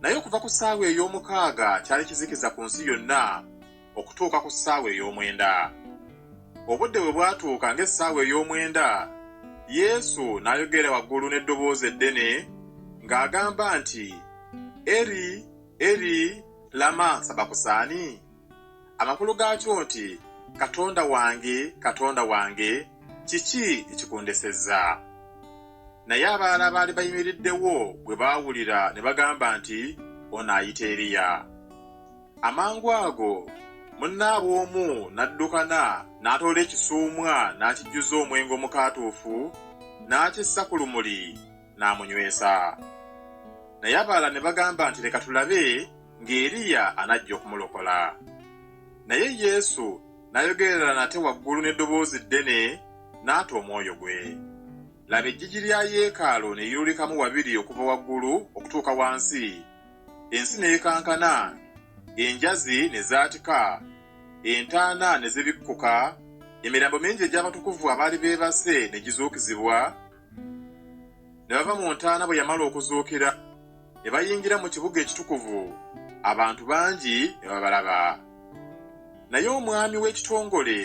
Naye okuva ku ssaawa ey'omukaaga kyali kizikiza ku nsi yonna, okutuuka ku ssaawa ey'omwenda. Obudde bwe bwatuuka ng'essaawa ey'omwenda, Yesu n'ayogera waggulu n'eddoboozi eddene ng'agamba nti, Eri, Eri, lama sabakusaani? Amakulu gaakyo nti, Katonda wange, Katonda wange, kiki ekikundesezza? Naye abalala abaali bayimiriddewo bwe baawulira ne bagamba nti, Ono ayita Eriya. Amangu ago munnaabwe omu n'addukana n'atoola ekisuumwa n'akijjuza omwenge omukaatuufu n'akissa ku lumuli n'amunywesa. Naye abalala ne bagamba nti, Leka tulabe ng'Eriya anajja okumulokola. Naye Yesu n'ayogerera nate waggulu n'eddoboozi ddene n'ata omwoyo gwe. Laba eggigi lya yeekaalu ne liyulikamu wabiri okuva waggulu okutuuka wansi, ensi n'ekankana, enjazi ne zaatika, entaana ne zibikkuka, emirambo mingi egy'abatukuvu abaali beebase ne gizuukizibwa, ne bava mu ntaana bwe yamala okuzuukira, ne bayingira mu kibuga ekitukuvu, abantu bangi ne babalaba. Naye omwami w'ekitongole.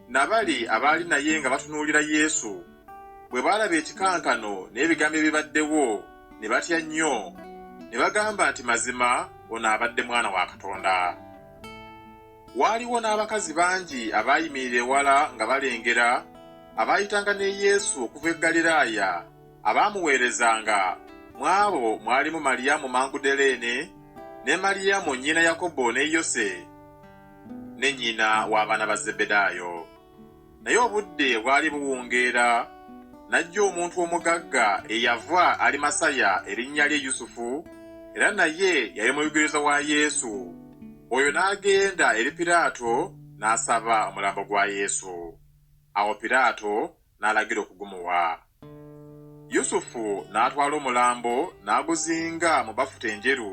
na bali abaali naye nga batunuulira Yesu, bwe baalaba ekikankano n'ebigambo ebibaddewo, ne batya nnyo, ne bagamba nti, Mazima ono abadde Mwana wa Katonda. Waaliwo n'abakazi bangi abaayimirira ewala nga balengera, abaayitanga ne Yesu okuva e Ggaliraaya, abaamuweerezanga, mu abo mwalimu Maliyamu Mangudaleene, ne Maliyamu nnyina Yakobo ne Yose, ne nnyina w'abaana ba Zebbedaayo. Naye obudde bwali buwungeera, n'ajja omuntu omugagga eyava Alimasaya erinnya lye Yusufu, era naye yali muyugirizwa wa Yesu. Oyo n'agenda eri Piraato n'asaba omulambo gwa Yesu. Awo Piraato n'alagira okugumuwa. Yusufu n'atwala omulambo n'aguzinga mu bafuta enjeru,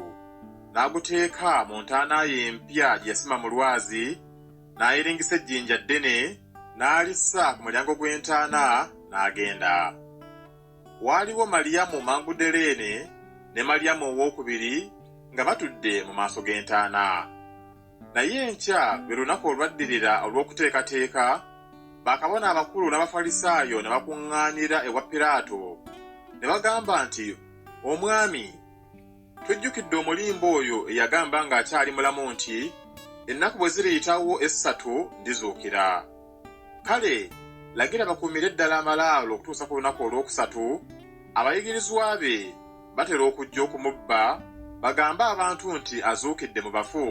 n'aguteeka mu ntaana ye empya gye yasima mu lwazi, n'ayiringisa ejjinja ddene, n'alissa ku mulyango gw'entaana, n'agenda. Waaliwo Maliyamu Magudaleene ne Maliyamu owookubiri nga batudde mu maaso g'entaana. Naye enkya lwe lunaku olwaddirira olw'okuteekateeka, bakabona abakulu n'Abafalisaayo ne bakuŋŋaanira ewa Piraato, ne bagamba nti, Omwami, tujjukidde omulimba oyo eyagamba ng'akyali mulamu nti, Ennaku bwe ziriyitawo essatu ndizuukira. Kale lagira bakuumire ddala amalaalo okutuusa ku lunaku olwokusatu, abayigirizwa be batera okujja okumubba bagambe abantu nti azuukidde mu bafu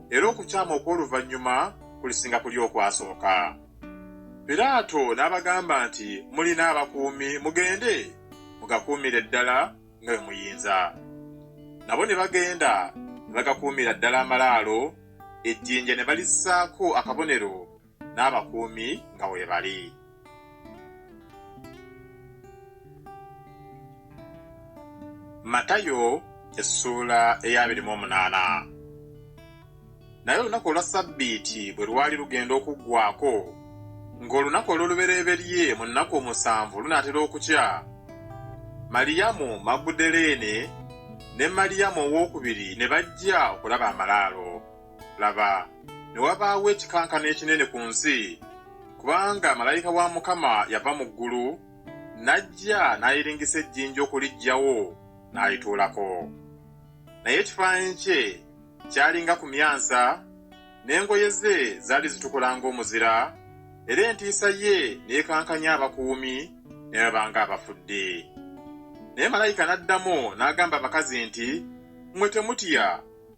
era okukyama okw'oluvannyuma kulisinga kuli okwasooka. Piraato n'abagamba nti, Mulina abakuumi, mugende mugakuumire ddala nga bwe muyinza. Nabo ne bagenda ne bagakuumira ddala amalaalo, ejjinja ne balissaako akabonero n'abakuumi nga weebali. Matayo essuula ey'abiri mu omunaana. Naye olunaku olwa Ssabbiiti bwe lwali lugenda okuggwaako, ng'olunaku olw'olubereberye mu nnaku omusanvu lunaatera okukya, Maliyamu Magudaleene ne Maliyamu ow'okubiri ne bajja okulaba amalaalo. Laba, ne wabaawo ekikankano ekinene ku nsi, kubanga malayika wa Mukama yava mu ggulu, n'ajja n'ayiringisa ejjinja okuliggyawo, n'alituulako. Naye ekifaananyi kye kyali nga ku myansa, n'engoye ze zaali zitukula ng'omuzira, era entiisa ye n'ekankanya abakuumi ne baba ng'abafudde. Naye malayika n'addamu n'agamba abakazi nti, Mmwe temutya.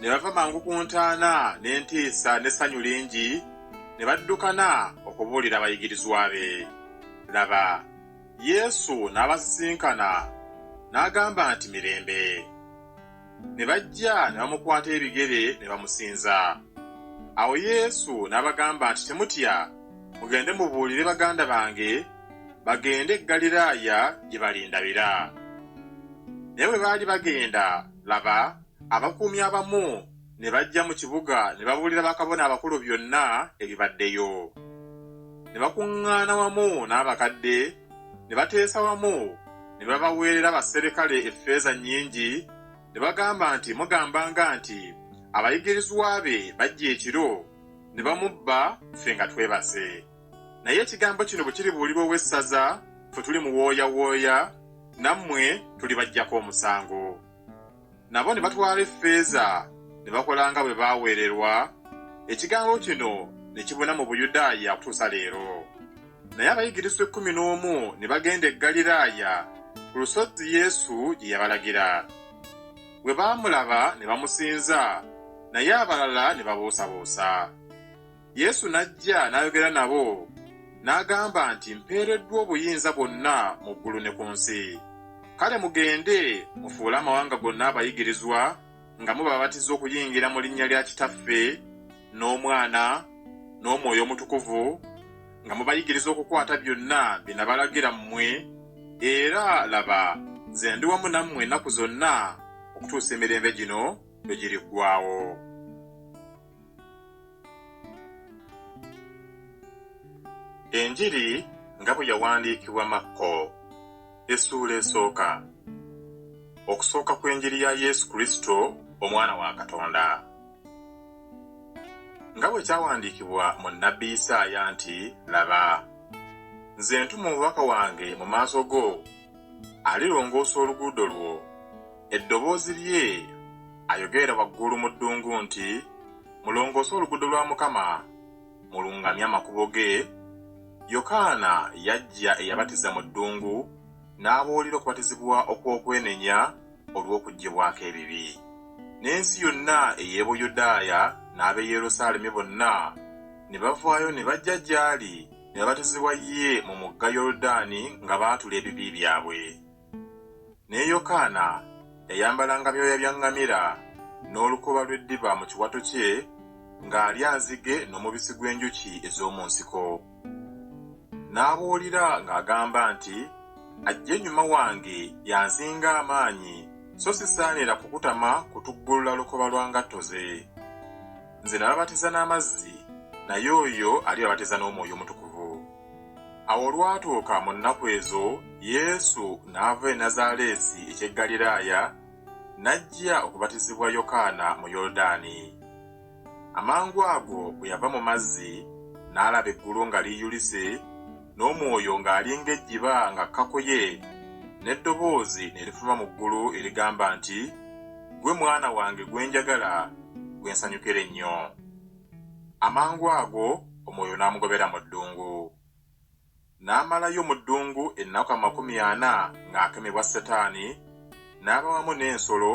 ne bava mangu ku ntaana n'entiisa n'essanyu lingi, ne baddukana okubuulira abayigirizwa be. Laba, Yesu n'abasisinkana, n'agamba nti, Mirembe! Ne bajja ne bamukwata ebigere ne bamusinza. Awo Yesu n'abagamba nti, Temutya, mugende mubuulire baganda bange bagende e Ggaliraaya gye balindabira. Naye bwe baali bagenda, Laba, abakuumi abamu ne bajja mu kibuga ne babuulira bakabona abakulu byonna ebibaddeyo. Ne bakuŋŋaana wamu n'abakadde, ne bateesa wamu, ne babaweerera abaserikale effeeza nnyingi, ne bagamba nti, Mugambanga nti, Abayigirizwa be bajja ekiro, ne bamubba ffe nga twebase. Naye ekigambo kino bwe kiribuulirwa ow'essaza, ffe tuli muwooyawooya, nammwe tulibaggyako omusango. Nabo ne batwala effeeza ne bakola nga bwe baaweererwa, ekigambo kino ne kibuna mu Buyudaaya okutuusa leero. Naye abayigirizwa ekkumi n'omu ne bagenda e Ggaliraaya ku lusozi Yesu gye yabalagira. Bwe baamulaba ne bamusinza, naye abalala ne babuusabuusa. Yesu n'ajja n'ayogera nabo, n'agamba nti, Mpeereddwa obuyinza bwonna mu ggulu ne ku nsi. Kale mugende mufuule amawanga gonna abayigirizwa, nga mubabatiza okuyingira mu linnya lya Kitaffe, n'Omwana, n'Omwoyo Omutukuvu, nga mubayigiriza okukwata byonna bye nabalagira mmwe, era, laba, nze ndi wamu nammwe ennaku zonna okutuusa emirembe gino lwe giriggwaawo. Enjiri nga bwe yawandiikibwa Makko, essuula esooka. Okusooka kw'enjiri ya Yesu Kristo, Omwana wa Katonda. Nga bwe kyawandiikibwa mu nnabbi Isaaya nti, Laba, nze ntuma omubaka wange mu maaso go, alirongoosa oluguudo lwo. Eddoboozi lye ayogerera waggulu mu ddungu nti, Mulongoose oluguudo lwa Mukama, mulungamye amakubo ge. Yokaana yajja eyabatiza mu ddungu n'abuulira okubatizibwa okw'okwenenya olw'okuggyibwako ebibi. N'ensi yonna ey'e Buyudaaya n'ab'e Yerusaalemi bonna ne bavaayo ne bajja gy'ali. ne babatizibwa ye mu mugga Yoludaani nga baatula ebibi byabwe. Ne Yokaana yayambalanga byoya bya ŋŋamira n'olukoba lw'eddiba mu kiwato kye, ng'alya nzige n'omubisi gw'enjuki ez'omu nsiko. N'abuulira ng'agamba nti, Ajja ennyuma wange y'ansinga amaanyi, so sisaanira kukutama kutuggulula lukoba lwa ngatto ze. nze nababatiza n'amazzi naye oyo ali babatiza n'omwoyo omutukuvu awo olwatuuka mu nnaku ezo yesu n'ava e nazaaleesi eky'e ggaliraaya n'ajja okubatizibwa yokaana mu yoludaani amangu ago bwe yava mu mazzi n'alaba eggulu nga liyulise n'omwoyo ng'alinga ejjiba ng'akkakuye, n'eddoboozi ne lifuva mu ggulu erigamba nti, Ggwe Mwana wange gwe njagala, gwe nsanyukira ennyo. Amangu ago Omwoyo n'amugobera mu ddungu. N'amalayo mu ddungu ennaku amakumi ana ng'akemebwa Setaani, n'aba wamu n'ensolo,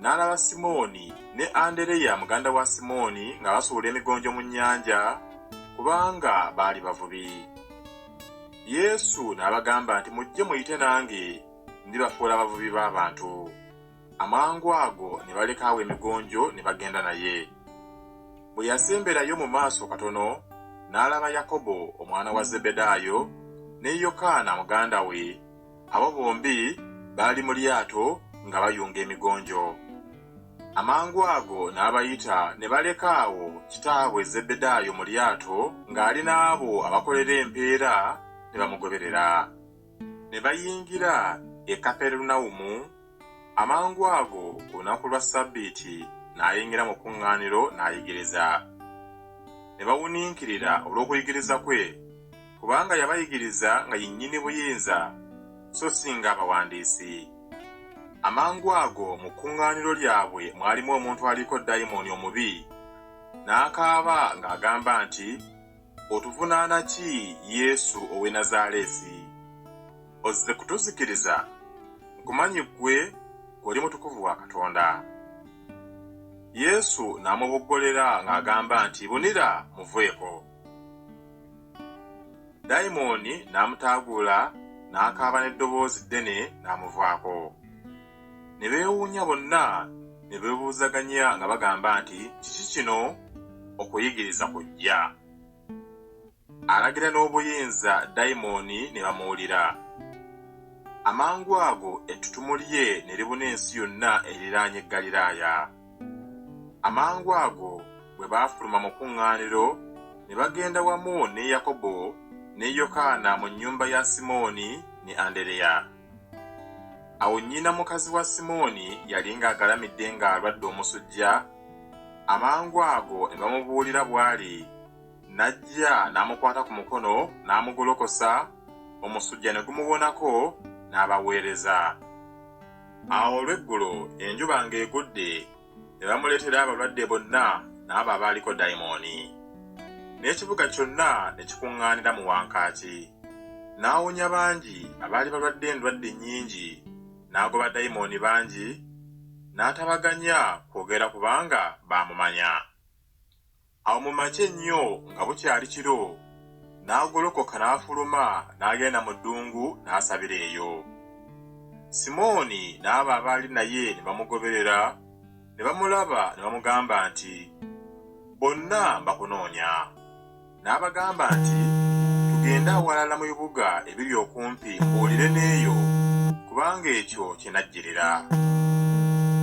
n'alaba Simooni ne Andereya muganda wa Simooni nga basuula emigonjo mu nnyanja, kubanga baali bavubi. Yesu n'abagamba nti, Mujje muyite nange, ndibafuula abavubi b'abantu. Amangu ago ne baleka awo emigonjo ne bagenda naye. Bwe yasemberayo mu maaso katono, n'alaba Yakobo omwana wa Zebedaayo ne Yokaana muganda we Abo bombi baali mu lyato nga bayunga emigonjo. Amangu ago n'abayita ne baleka awo kitaabwe Zebbedaayo mu lyato ng'ali n'abo abakolera empeera ne bamugoberera. Ne bayingira e Kaperunawumu. Amangu ago ku lunaku lwa Ssabbiiti n'ayingira mu kkuŋŋaaniro n'ayigiriza. Ne bawuniikirira olw'okuyigiriza kwe, kubanga yabayigiriza nga ye nnyini buyinza, so si ng'abawandiisi. Amangu ago mu kkuŋŋaaniro lyabwe mwalimu omuntu aliko dayimooni omubi, n'akaaba ng'agamba nti, Otuvunaana ki Yesu ow'e Nazaaleesi? Ozze kutuzikiriza? Nkumanyi ggwe, ggwe oli mutukuvu wa Katonda. Yesu n'amuboggolera ng'agamba nti, Bunira, muveeko. Dayimooni n'amutaaguula n'akaaba n'eddoboozi ddene n'amuvaako. ne beewuunya bonna ne beebuuzaganya nga bagamba nti, Kiki kino? Okuyigiriza kujja. Alagira n'obuyinza dayimooni ne bamuwulira. Amangu ago ettutumu lye ne libuna ensi yonna eriraanye Ggaliraaya. Amangu ago bwe baafuluma mu kkuŋŋaaniro, ne bagenda wamu ne Yakobo ne Yokaana mu nnyumba ya Simooni ne Andereya. Awo nnyina mukazi wa Simooni yali ng'agalamidde ng'alwadde omusujja, amangu ago ne bamubuulira bw'ali, n'ajja n'amukwata ku mukono n'amugolokosa, omusujja ne gumuwonako, n'abaweereza. Awo olw'eggulo enjuba ng'egudde, ne bamuleetera abalwadde bonna n'abo abaaliko dayimooni. N'ekibuga kyonna ne kikuŋŋaanira mu wankaaki. N'awonya bangi abaali balwadde endwadde nnyingi, n'agoba dayimooni bangi, n'atabaganya kwogera kubanga baamumanya. Awo mu makya ennyo nga bukyali kiro, n'agolokoka n'afuluma n'agenda mu ddungu n'asabira eyo. Simooni n'abo abaali naye ne bamugoberera, ne bamulaba ne bamugamba nti, Bonna bakunoonya. N'abagamba nti, Tugende awalala mu bibuga ebiri okumpi mbuulire n'eyo, kubanga ekyo kye najjirira.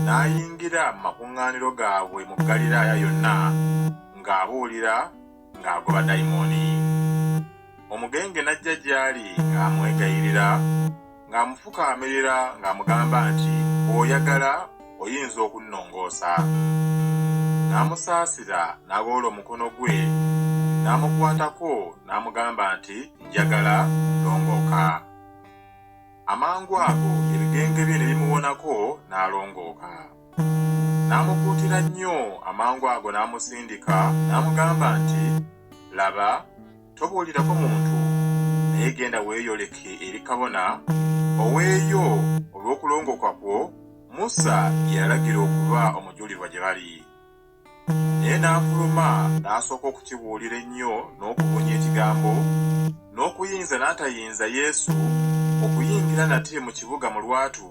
N'ayingira mu makuŋŋaaniro. makuŋŋaaniro gaabwe mu Ggaliraaya yonna ng'abuulira ng'agoba dayimooni. Omugenge n'ajja gy'ali ng'amwegayirira, ng'amufukaamirira ng'amugamba nti, Bw'oyagala oyinza okunnongoosa. N'amusaasira n'agolola omukono gwe n'amukwatako n'amugamba nti, Njagala, longooka. Amangu ago ebigenge bye ne bimuwonako n'alongooka. N'amukuutira nnyo amangu ago n'amusindika n'amugamba nti, Laba, tobuulirako muntu, naye genda weeyoleke eri kabona, oweeyo olw'okulongooka kwo Musa bye yalagira okuba omujulirwa gye bali. naye n'afuluma n'asooka okukibuulira ennyo n'okubunya ekigambo n'okuyinza n'atayinza yesu okuyingira nate mu kibuga mu lwatu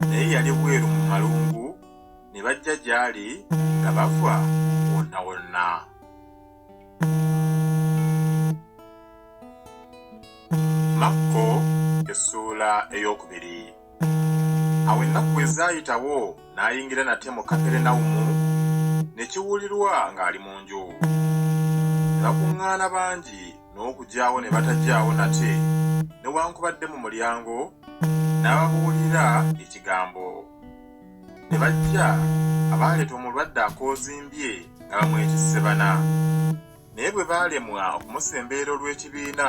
naye yali bweru mu malungu ne bajja gy'ali nga bava wonna wonna makko essuula ey'okubiri awo ennaku bwe zaayitawo n'ayingira nate mu kaperenawumu ne kiwulirwa ng'ali mu nju ne bakuŋŋaana bangi n'okugyawo ne batagyawo nate newankubadde mu mulyango n'ababuulira ekigambo ne bajja abaaleeta omulwadde akoozimbye nga bamwetisse bana naye bwe baalemwa okumusembeera olw'ekibiina